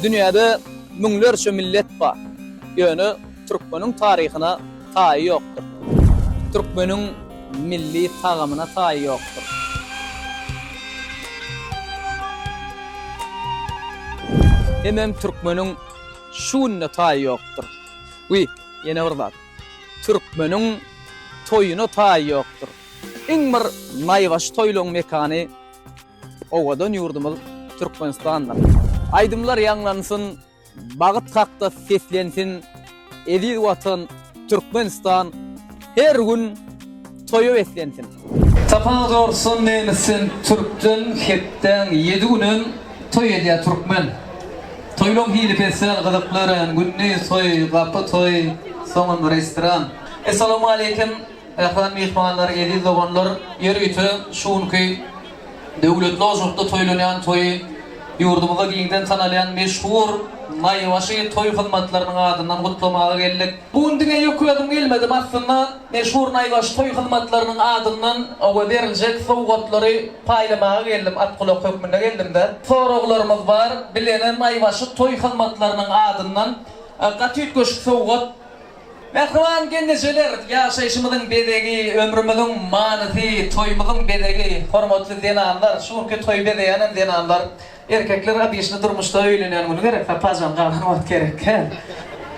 Dünýäde müňlerçe millet bar. Ýöne türkmeniň taryhyna taýy ýokdur. Türkmeniň milli tagamyna taýy ýokdur. Hemem türkmeniň şu gününe taýy ýokdur. We ýene bir zat. Türkmeniň toýuna taýy ýokdur. Iň bir naýbaşy toýlaryň mekany Owadan ýurdumyz Türkmenistandyr. Aýdymlar ýaňlansyn, Bagyt hakda seslensin, Eziz Watan Türkmenistan her gün toýa beslensin. Sapaň zorsun nemisden türkden hepdäň ýedi günem toý edýä türkmen Toýlaň hili pesial gyzykly örän gündiz toý gapy toý soňam restoran Essalawmaleýkim Mähriban myhmanlar, eziz doganlar, ýer ýüte şu günki döwletli ojakda toýlanýan toýy ýurdumyzda giňden tanalýan meşhur Naýbaşy toý hyzmatlarynyň adyndan gutlamaga geldik. Bu gün diňe ýük özüm gelmedim, aslynda meşhur Naýbaşy toý hyzmatlarynyň adyndan oba beriljek sowgatlary paýlamaga geldim, at-gulak hökmünde geldim-de. Soraglarymyz bar, bilene Naýbaşy toý hyzmatlarynyň adyndan gaty üýtgeşik sowgat. Mähriban gelnejeler, ýaşaýşymyzyň bezegi, ömrümiziň manysy, toýumyzyň bezegi. Hormatly zenanlar, şu günki toýy bezeýänem zenanlar. Erkekler abyşny durmuşda öýlenýän güni gerek, sapajan galan wagt gerek, hä?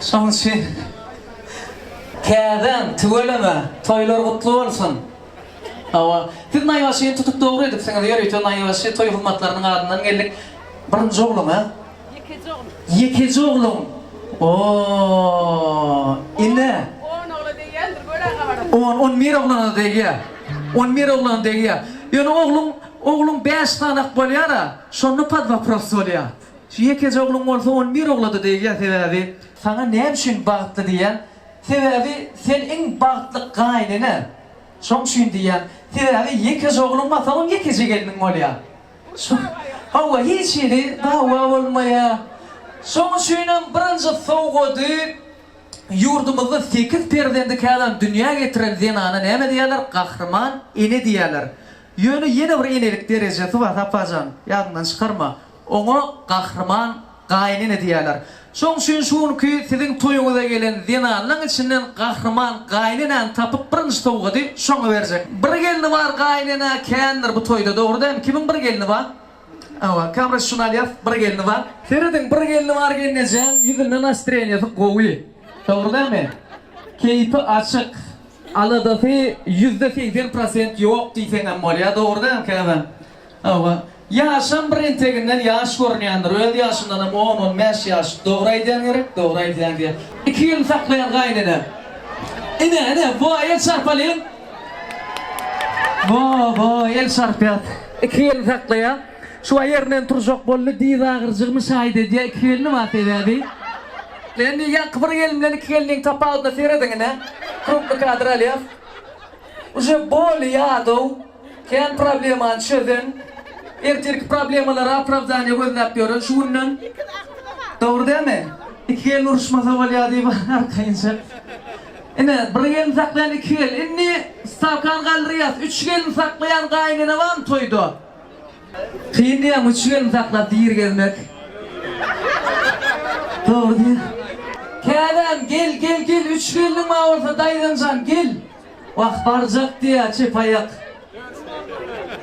Şoň üçin Käden, tüweleme, toýlar gutly bolsun! Hawa, siz naýbaşyny tutup dogry edipsiňiz, ýörite naýbaşy toý hyzmatlarynyň adyndan geldik. Birinji oglan, hä? Ýekeje ogul. Ýekeje ogluň. Ooh. Ine. On ogla degýändir, gör-ä gabaryň. On, on bir oglana degýär. On bir oglana degýär. Ýöne ogluň, ogluň bäş sany-ak bolýar-a, şonda pod wopros bolýar. Şu ýekeje ogluň bolsa on bir ogla-da degýär, sebäbi. Saňa näme üçin bagtly diýýän? Sebäbi sen iň bagtly gaýnene. Şoň üçin diýýän. Sebäbi ýekeje ogluň bolsa, on ýekeje gelniň bolýar. Çyh. Hawa, hiç hili dawa bolmaýar. Şoň üçinem birinji sowgady ýurdumyzda sekiz perzendi känam dünýä getiren zenana näme diýerler? Gahryman ene diýerler. Ýöne ýene bir enelik derejesi bar, Saparjan, ýadyňdan çykarma. Oňa Gahryman Gaýynene diýerler. Şoň üçin şu günki siziň toýuňyza gelen zenanlaň içinden gahryman gaýynenäni tapyp birinji sowgady şoňa berjek. Bir gelni bar gaýynenä kändir bu toýda dogry dämi kimiň bir gelni ba Hawa kamera şuny alýas bir gelni bar. Serediň bir gelni bar gelnejäň ýüzünde nastreniýasy gowy dogry dämi keýpi açyk aladasy ýüzde segsen prosent ýok diýseňem bolýa dogry dämi käbäm. Hawa, ýaşam bir enteginden ýaş görünýändir, öz ýaşyndanam on-on bäş ýaş dogry aýdýan gerek, dogry aýdýan diýen. Iki ýyl saklaýan gaýynene. Ine, ine, bo-a el çarpalyň. Bo-a, bo-a el çarpýas. Iki ýyl saklaýar. Şu-a ýerinden turjak boldy, dyz agyrjygymy şaýyt edýär, iki gelni bar sebäbi. Indi ýaňky bir gelin bilen iki gelniň tapawudyna serediň ine. Krupny kadr alýas. Uje boli-ýad-ow. Kän problemany çözen, ertirki problemalara opravdaniýa gözläp ýören şu günden Dogry dälmi? Iki gelin uruşmasa bolýa diýip arkaýynça. Ine, bir gelin saklaýan iki gelin. Indi stawkany galdyrýas. Üç gelin saklaýan gaýynene barmy toýda? Kyn diýýäňmi üç gelin saklap diri gezmek? Dogry diýýä. Käbäm, gel, gel, gel, üç geliniň bar bolsa daýzanjan, gel. Wah barjak diýýä çep aýak.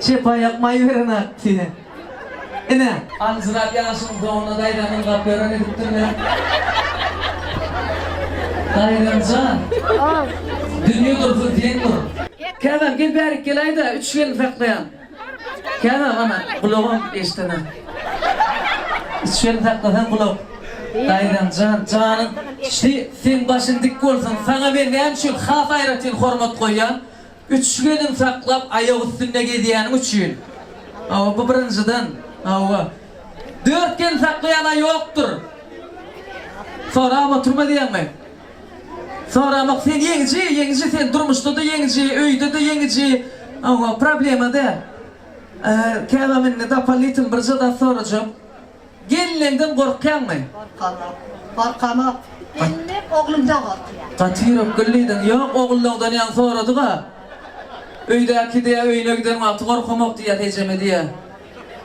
Çep aýak maý berenäk diýýä. Ine. Aljyrap ýaşyň doňuna daýzany ylgap ýören edipdir ne? Daýzanjan. Dünýe dursun sen dur. Käbäm gel bärik gelaýda üç gelin saklaýan. Käbä gana gulagam eşdemän. Şeýle saklasaň gulak. Daýzam jan, janyň şi, seň başyň dik bolsun. Saňa men näme üçin has aýratyn hormat goýýan? Üç gelin saklap aýak üstünde gezýäniň üçin. Hawa, bu birinjiden. Hawa. Dört gelin saklaýan-a ýokdur. Sorap oturma diýýäňmi? Soramok sen ýeňiji ýeňiji sen durmuşda-da ýeňiji öýde-de ýeňiji oho problema däl Äger käbäm indi dopolnitill birje zat sorajak Gelneňden gorkýaňmy? Gorkamok gorkamok Gelnek oglumdan gorkýar. Gaty ýürek güllidiň ýok ogullaňdan ýaňy soradyga Öýdäki diýýä öýüne giden wagty gorkamok diýýäs ejeme diýýä.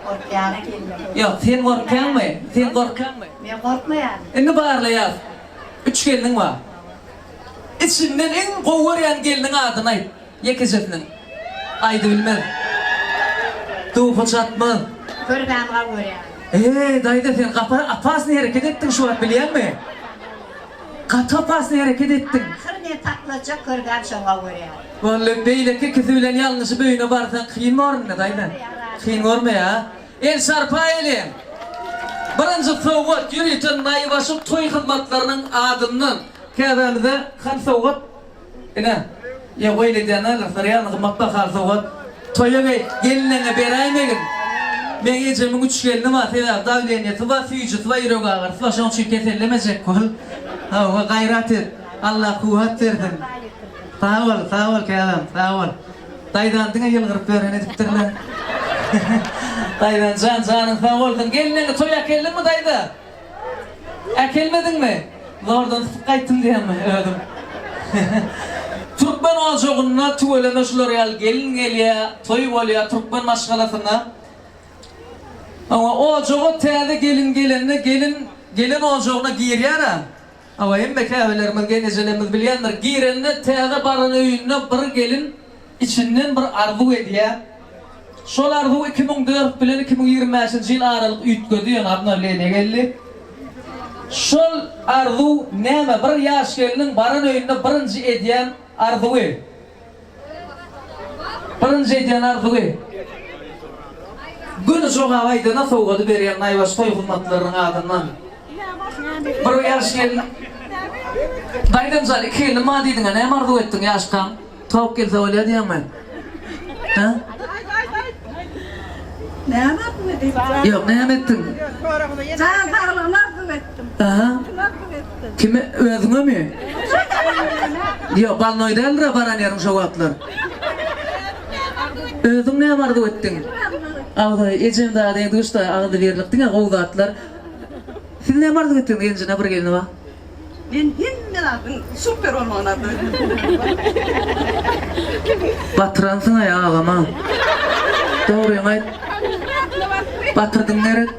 Gorkýana gelneň. Ýok sen gorkýaňmy sen gorkýaňmy? Men gorkmaýaryn. Indi barlaýas. Üç gelniň bar. Içiňden iň gowy görýän gelniň adyny aýt. Ýekejesiniň. Aýdybilmez. Duhy çatmaz. Görmämi gowy görýän. Eý, daýza sen gapa opasnyý hereket etdiň şu wagt bilýäňmi? Gaty opasnyý hereket etdiň. Ahyry men patlajak görgäm şony gowy görýän. Wally beýleki ikisi bilen ýalňyşyp öýüne barsaň kyn bormy daýza? Kyn gormaýa. El sarpa eleň! Birinji sowgat ýörite naýbaşy toý hyzmatlarynyň adyndan. Käbämize han sowgat. Ine, ýa goý eledýän agyrsyr ýaly gymmat bahaly sowgat. Toýa geý, gelneňe beräýmegin. Meň ejemiň üç gelni bar, sebäbi dawleniýesi bar, süýjüsi bar, ýürek agyrysy bar, şonuň üçin kesellemejek bol. Hawa, gaýrat et. Allah kuwwat bersin. Sag bol, sag bol käbäm, sag bol. Daýzan diňe ýylgyryp ýören edipdirle. Daýzanjan janyň sag bolsun. Gelneňi toýa äkeldiňmi daýza? Äkelmediňmi? Zordan tutup gaýtdym diýenmi özüm. Türkmen ojagynda tüweleme şular ýaly gelin gelýä, toý bolýa türkmen maşgalasyna. Oňa ojaga täze gelin gelende gelin gelen ojagyna girýär-ä. Hawa hemme käbelerimiz gen ejelerimiz bilýändir girende täze baran öýünde bir gelin içinden bir arzuw edýä şol arzuw iki müň dört bilen iki müň ýigrimi bäşinji ýyl aralyk üýtgedi ýöne abnowleniýa geldi şol arzuw näme bir ýaş gelniň baran öýünde birinji edýän arzuwy Birinji edýän arzuwy, Gün jogap aýdana sowgady berýän naýbaşy toý hyzmatlarynyň adyndan bir ýaş gelin Daýzamjan iki gelnim bar diýdiňä näme arzuw etdiň ýaşkaň? Towuk gelse bolýar diýýäňmi? Hä? Näme arzuw etdiň? Ýok näme etdiň? Jan saglygyny arzuw etdim. Aha. Kime özüňemi? Ýok balnoý däldirä baran ýeriň şo wagtlar. Özüň näme arzuw etdiň? Agzaý ejeň dadyň duşda agzy berlik diňe gowy zatlar. Siz näme arzuw etdiňiz genjine bir gelni bar. Men hemme zadyň super bolmagyny arzuw etdim. Batyransyňaý agama. Dogryňy aýt. Batyrdyň gerek.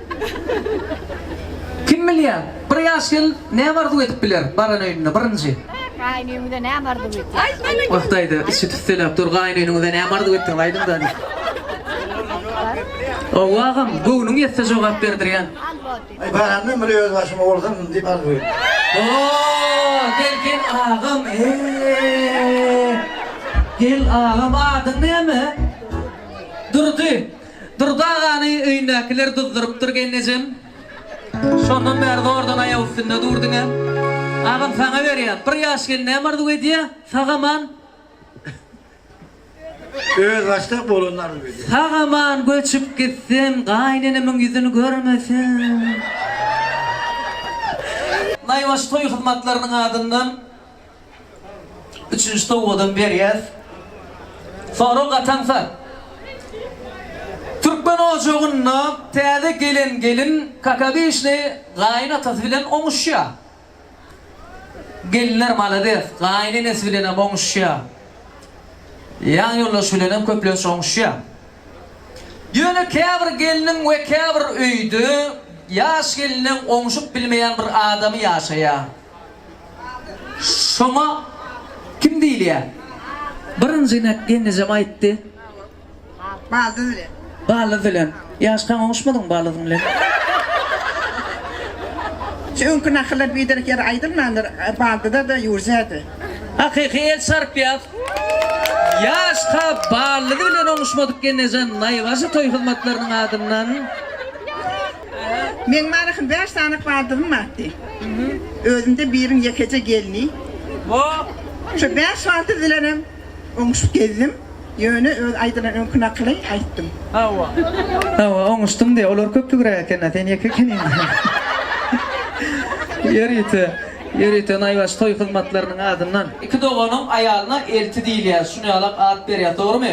Kim bilýä? Bir ýaş gelin näme arzuw edip biler baran öýünde birinji? Gaýynöýüňize näme arzuw etýäňiz? Wah daýza içi tüsseläp dur gaýynöýüňize näme arzuw etdiňiz aýdyň daýza. Hawa agam göwnüň ýetse jogap berdirýän. Aý baranda muny öz başyma bolsam diýip arzuw edýän. Hoo gelgin agam eee gel agam adyň näme? Durdy. Durdy agany öýündäkiler duzdurypdyr gelnejem. Şondan bäri zordan aýak üstünde durdyň-a. Agam saňa berýän. Bir ýaş gelin näme arzuw edýä? Sag-aman. Özbaşdak bolanyny arzuw edýä. Sag-aman göçüp gitsem, gaýynenemiň ýüzüni görmesem. Naýbaşy toý hyzmatlarynyň adyndan Üçünji sowgadam berýäs. Soragy gataňsa, türkmen ojagynda täze gelen gelin kakabişli gaýyn atasy bilen oňuşýar. Gelinler malades, gaýyn enesi bilenem oňuşýar. Ýan ýoldaşy bilenem köplenç oňuşýar. Ýöne käbir gelniň we käbir öýde ýaş gelniň oňuşyp bilmeýän bir adamy ýaşaýar. Şoňa kim diýilýär? Birinji inek ýeňňejem aýtdy. Baldyz bilen. Baldyz bilen. Ýaş taň oňuşmadyň baldyzyň bilen. Şu öňki nakyllar biderek ýere aýdylmandyr, baldyza-da, ýurja-da. Hakyky el çarpýas. Ýaş ka baldyzy bilen oňuşmadyk Ýeňňejan naýbaşy toý hyzmatlarynyň adyndan. Meň Maryhyň bäş sany kwadrym bardy. Özümde biriň ýekeje gelni. Şo bäş kwadr bilenem oňuşyp gezdim. Ýöne öz aýdylan öňki nakyly aýtdym. Hawa. Hawa, oňuşdyň diýe. Olar köplügräk eken-ä, sen ýeke ekeniň. Ýörite, ýörite naýbaşy toý hyzmatlarynyň adyndan. Iki doganyň aýalyna elti diýilýär, şuny ýalak at berýär. Dogrumy?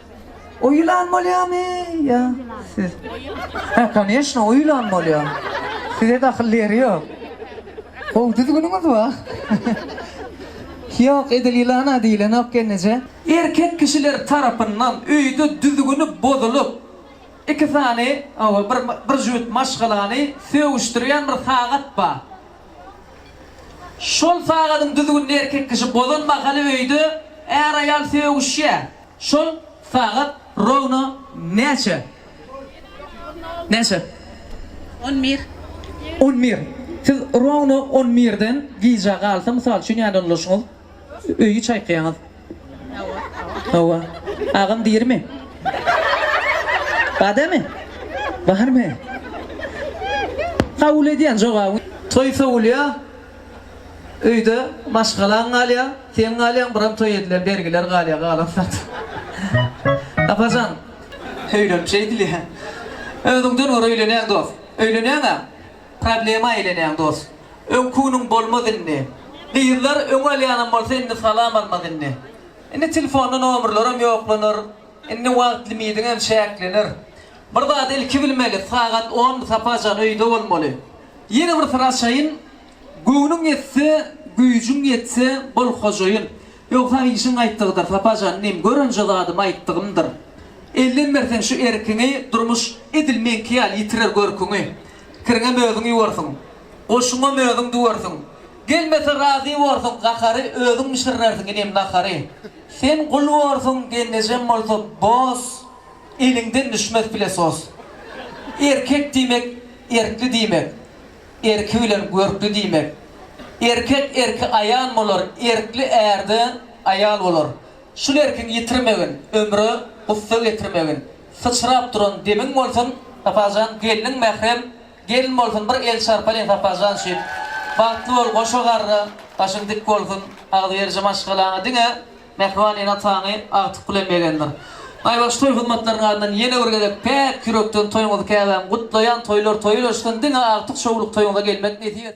O ýylan bolýamy ýa siz? Hä koneşno o ýylan bolýa. Size dahyl ýeri ýok. Gowy düzgüniňiz bar. Ýok edil ýylana diýilenok gelneje. Erkek kişiler tarapyndan öýde düzgüni bozulyp iki sany ow bir bir jübüt maşgalany sögüşdirýän bir sagat bar. Şol sagadyň düzgünini erkek kişi bozan mahaly öýde är-aýal sögüşýär. Şol sagat rowno näçe? Näçe? On bir. On bir. Siz rowno on birden gijä galsa, mysal üçin, nädip ulaşyňyz? Öýi çaýkaýaňyz. Hawa. Hawa. Agam dirimi? Badamy? Barmy? Kabul edýän jogabyňy. Toý sowulýa. Öýde maşgalaň galýar, sen galýaň, biram toý edilen bergiler galýar, galan zat. Apajan. Öýlenip şeýdilýä. Özüňden gör öýlenýäň dos. Öýlenýäň-ä. Problema eýlenýäň dos. Öňküniň bolmaz indi. Gyzlar öň alýanam bolsa indi salam almaz indi. Indi telefonda nomerleram ýoklanar. Indi wagt limidiňem çäklener. Bir zady ilki bilmeli, sagat on Saparjan öýde bolmaly. Ýene bir syraşaýyn, Göwnüň ýetse, güýjüň ýetse, bol hojaýyn. Ýogsam işiň gaýtdygydyr, Sapa jan inim, görünje zadym aýtdygymdyr. Elden berseň şu erkiňi, durmuş edil meňki ýaly ýitirer görküňi. Kiriňem özüň ýuwarsyň, goşuňam özüň düwersiň. Gelmese razy borsuň gahary, özüň bişirersiň inim nahary. Sen gul borsuň, gelnejem bolsa, boz. eliňden düşmez pilesos. Erkek diýmek erkli diýmek, erki bilen görkli diýmek. Erkek erki aýal bolar, erkli ärde aýal bolar. Şul erkiň ýitirmegin, ömre gussa getirmegin. Syçrap duran demiň bolsun, Saparjan, gelniň mährem gelin bolsun, bir el çarpalyn Saparjan üçin. Bagtly bol goşa garra, başyň dik bolsun, agzyberici maşgalaňa diňe. Mähriban ene taňy agtyk bilen begendir. Aýbaş toý hyzmatlarynyň adyndan ýene bir gezek päk ýürekden toýuňyzy käbäm gutlaýan toýlar toýy örsün diňe agtyk şowluk toýuňyza gelmek nesip etsin.